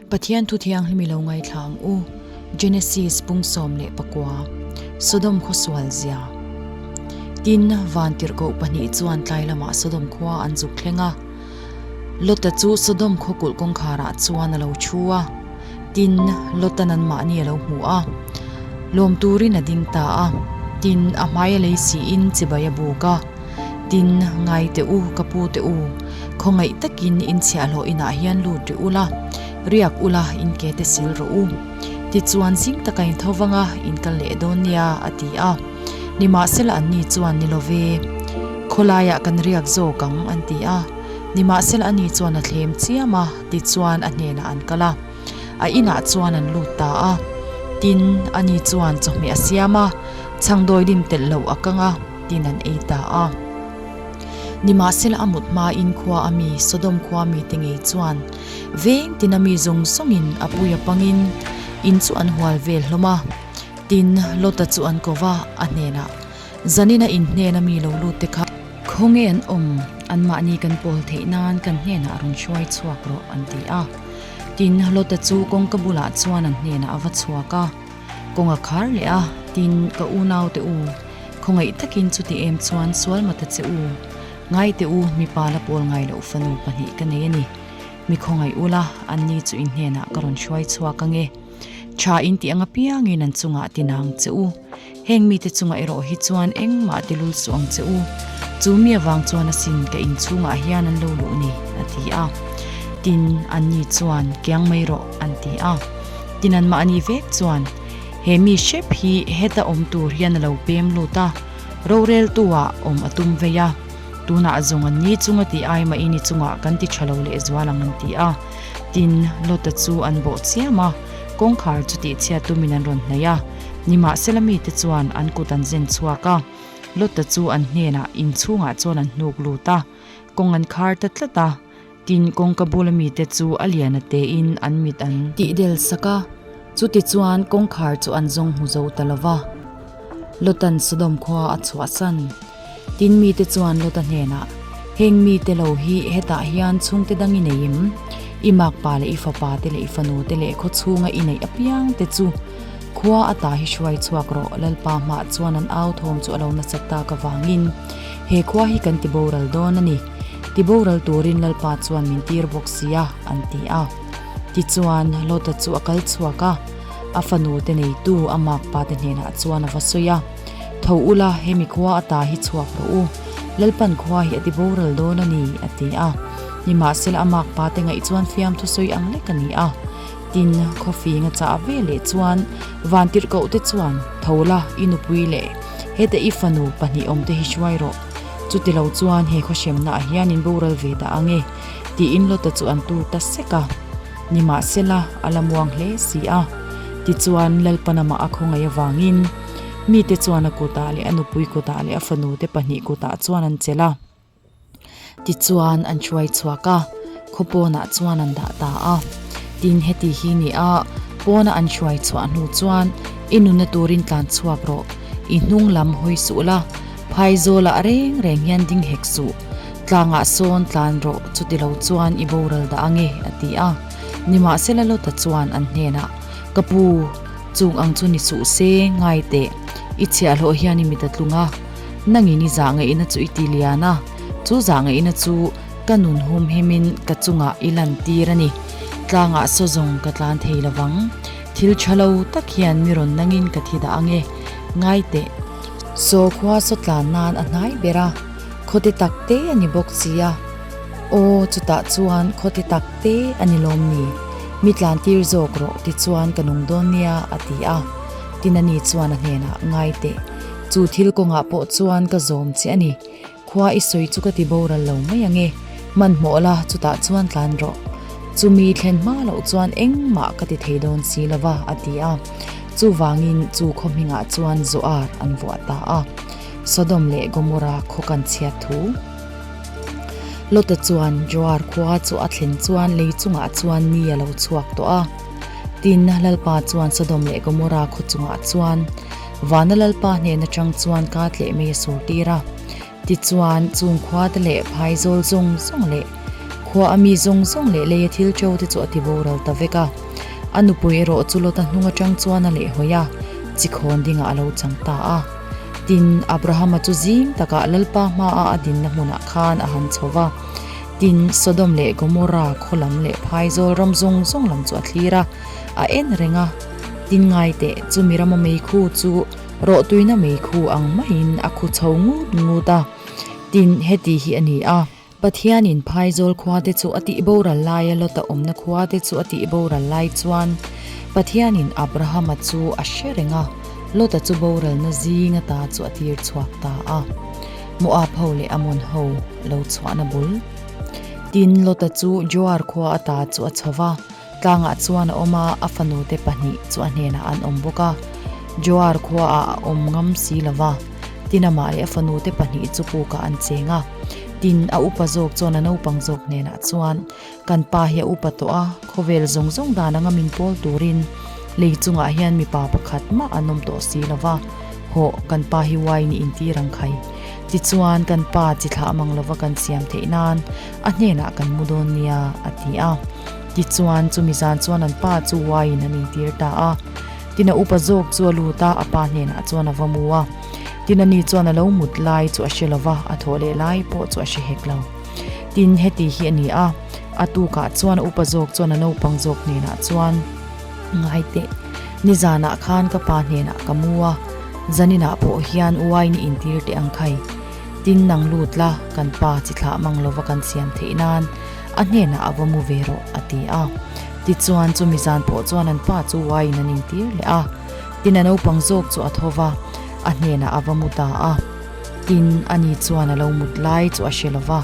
Pathian Thu Thianghlim i lo ngaithlang u, Genesis pung sawm leh pakua, Sodom khawsual zia. Tin, van tirhkoh pahnih chuan tlai lamah Sodom khua an zuk thleng a. Lota chu Sodom khawkulh kawngkharah chuan a lo thu a. Tin, Lota nanmahni a lo hmu a. Lawm turin a ding ta a. Tin, a hmai a lei siin chibai a buk a. tin, Ngai teh u, ka pu teh u, khawngaih takin in chhiahhlawh inah hian lut ri ula, riak ula in ke te sil rawh u. Tichuan, zing taka in tho vanga in kal leh dawn nia, a ti a. Nimahsela anni chuan, Ni love, khawlaiah kan riak zawk ang, an ti a. Nimahsela ani chuan a thlem chiam a, tichuan a hnenah an kal a. A inah chuan an lut ta a, tin, ani chuan chawhmeh a siam a, chhangdawi lim telh loh a kang a. tin an ei ta a. Nimahsela a mut hmain khua a mi Sodom khua mite ngei chuan veng tina mi zawng zawngin a pui a pangin in chu an hual ve hlawm a. Tin, Lota chu an ko va, a hnenah zanin a in hnen a mi lo lut te kha. Khawnge an awm? Anmahni kan pawl theih nan kan hnenah a rawn hruai chhuak rawh, an ti a. Tin, Lota chu kawngka bulah chuan an hnenah a va chhuak a. Kawng a khar leh a, tin, ka u naute u, khawngaih takin chuti em chuan sual mata che u. Ngaite u, mipa la pawl ngai loh fanu pahnih ka nei a ni. Mi khawngaih ula, anni chu inhnenah ka rawn hruai chhuak ange. Tha inti anga piangin an chungah tinang che u. Heng mite chungah erawh hi chuan engmah tilul suh ang che u, chu mi avang chuan a sin ka inchhungah hian an lo luh ni, a ti a. Tin, an ni chuan, Kiang mai rawh, an ti a. Tin, anmah a nih vek chuan, He mi hrep hi heta awm tur hian a lo pem lut a, roreltuah awm a tum vei a, tunah zawng an ni chung a tih ai mah i ni chungah kan ti tha lo leh zual ang, an ti a. Tin, Lota chu an bawh chiam a, kawngkhar chu tihchhiat tumin an rawn hnaih a. Nimahsela mite chuan an kut an zen chhuak a, Lotta chu an hnenah in chhungah chuan an hnuk lut a, kawng an khar ta tlat a. Tin, kawngka bula mite chu a liana tein an mit an. Tih del sak a, chutichuan kawngkhar chu an zawng hmu zo ta lo va. Lotta-n Sodom khua a chhuahsan. Tin mite chuan Lota hnenah, Heng mite lo hi hetah hian chhungte dang i nei em? I makpa leh i fapa te leh i fanute leh khawchhunga i neih apiang te chu khua atah hi hruai chhuak rawh, Lalpa hmah chuan an au thawm chu a lo nasat tak avangin he khua hi kan ti boral dawn a ni. Ti boral turin Lalpa chuan min tir bawk sia, an ti a. Tichuan, Lota chu a kal chhuak a, a fanute neitu a makpate hnenah chuan a va sawi a. Tho ula, hemi khua a ta hi chhuak rawh u, Lalpan khua hi a ti boral dawn a ni, a ti a. Nimahsela a mak pate ngaih chuan fiam thusawi ang lek a ni a. Tin, khaw fing a chah ve leh chuan Vantirhkohte chuan, Tho la, i nupui leh heta i fanu pahnih awmte hi hruai rawh. Chuti lo chuan he khaw hremnaah hian in boral ve dah ang e, tiin Lota chu an tur ta sek a. Nimahsela, a la muang hle si a. Tichuan, Lalpan amah a khawngaih avangin, Mite chuan a kutah leh a nupui kutah leh a fanute pahnih kutah chuan an chelh a. Tichuan an hruai chhuak a, khaw pawnah chuan an dah ta a. Tin heti hi ni a, pawna an hruai chhuah hnu chuan, I nuna turin tlan chhuak rawh, i hnung lam hawi suh la, Phaizawlah reng reng hian ding hek suh, tlangah sawn tlan rawh chuti lo chuan i boral dah ange, a ti a. Nimahsela Lota chuan an hnenah, Ka pu! Chung ang chu ni suh se, ngai teh. I chhiah hlawh hian i mit a tlung a, nangin i zah ngaih na chu i ti lian a, chu zah ngaih na chu ka nun hum him in ka chungah i lan tir a ni. Tlangah saw zawng ka tlan thei lo vang. Thil tha lo tak hian ni rawn nangin ka thi dah ange, ngai teh. Saw khua saw tlan nan a hnai ber a, khawte tak te a ni bawk si a. Aw, chutah chuan khawti tak te a ni lawm ni? Mi tlantir zawk rawh tichuan ka nung dawn nia, a ti a. Tina ni chuan a hnenah, Ngai teh, chu thil kawngah pawh chuan ka zawm che a ni. Khua i sawi chu ka ti boral lo mai ange. Hmanhmawh la, chutah chuan tlan rawh. Chumi thlen hma loh chuan engmah ka ti thei dawn si lo va, a ti a. Chuvangin chu khawhmingah chuan zawh ar an vuah ta a. Sodom leh Gomora khaw kan chhiat thu. Lota chuan Joar khua chu a thlen chuan lei chungah chuan mi a lo chhuak tawh a. Tinna Lalpa chuan Sodom leh Gomorrah khaw chungah chuan Vana Lalpa hnen atang chuan kât leh mei a sur tir a. Tichuan, chung khuate leh phai zawl zawng zawng leh khua a mi zawng zawng leh lei a thil ṭo te chu a tiboral ta vek a. A nupui erawh chu Lota hnung atang chuan a lehhawi a, chi khawn dingah a lo chang ta a. Tin, Abrahama chu zing takah Lalpa hmaa a dinna hmunah khan a han chho va. Tin, Sodom leh Gomora khaw lam leh phaizawl ram zawng zawng lam chu a thlir a, a en reng a. Tin, ngaiteh chu mi rama meikhu chu rawh tuihna meikhu ang maiin a khu chho ngut ngut a. Tin, heti hi a ni a. Pathianin phaizawl khuate chu a tih boral laia Lota awmna khuate chu a tih boral lai chuan Pathianin Abrahama chu a hre reng a, Lota chu boralna zinga ta chu a tir chhuak ta a, Moab ho leh Ammon ho lo chhuahna bul. Tin, Lota chu Zoar khua a ta chu a chho va. Tlangah chuan a awm a, a fanu te pahnih chu a hnenah an awm bawk a, Joar khuaah a awm ngam si lo va, Tinamah leh a fanu te pahnih chu pukah an cheng a. Tin, a upa zawk chuan a naupang zawk hnenah chuan, Kan pa hi a upa tawh a, khawvel zawng zawng dan anga min pawl turin lei chungah hian mipa pakhat mah an awm tawh si lo va, hawh, kan pa hi uai nihin tir ang khai. Tichuan, kan pa chi thlah mang lova kan siam theih nan a hnenah kan mu dawn nia, a ti a. Tichuan, chumi zan chuan an pa chu uaiin an intir ta a. Tina upa zawk chu a lut a, a pa hnenah chuan a va mu a. Tina ni chuan a lo mut lai chu a hre lo va, a thawh leh lai pawh chu a hre hek lo. Tin, heti hi a ni a, a tukah chuan a upa zawk chuan a naupang zawk hnenah chuan, Ngaiteh, ni zanah khan ka pa hnenah ka mu a, zaninah pawh hian uaiin i intir teh ang khai. Tin nang lut la, kan pa chi thlah mang lova kan siam theih nan a hnenah a va mu ve rawh, a ti a. Tichuan chumi zan pawh chuan an pa chu uaiin an intir leh a. Tin a naupang zawk chu a tho va, a hnenah a va mu ta a. Tin, ani chuan a lo mut lai chu a hre lova,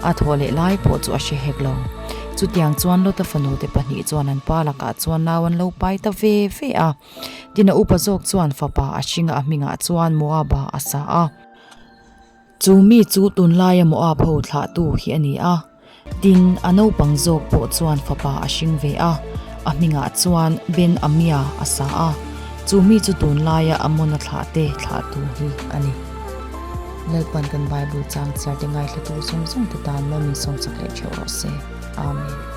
a thaw leh lai pawh chu a hre hek lo. Chutiang chuan Lota fanute pahnih chuan an pa lakah chuan nau an lo pai ta ve ve a. Tin a upa zawk chuan fapa a hringa a hmingah chuan Moaba a sa a. Chu mi chu tunlai emaw a pho thlahtu hi a ni a, tin a naupang zawk pawh chuan fapa a hring ve a, a hmingah chuan Ben Amia a sa a, chu mi chu tunlaia a mawna thlah te thlahtu hi a ni. Lalpan kan Bible changchhiar te ngaihhlatu zawng zawng te tan maw min sawmchak leh theuh rawh se. Amen.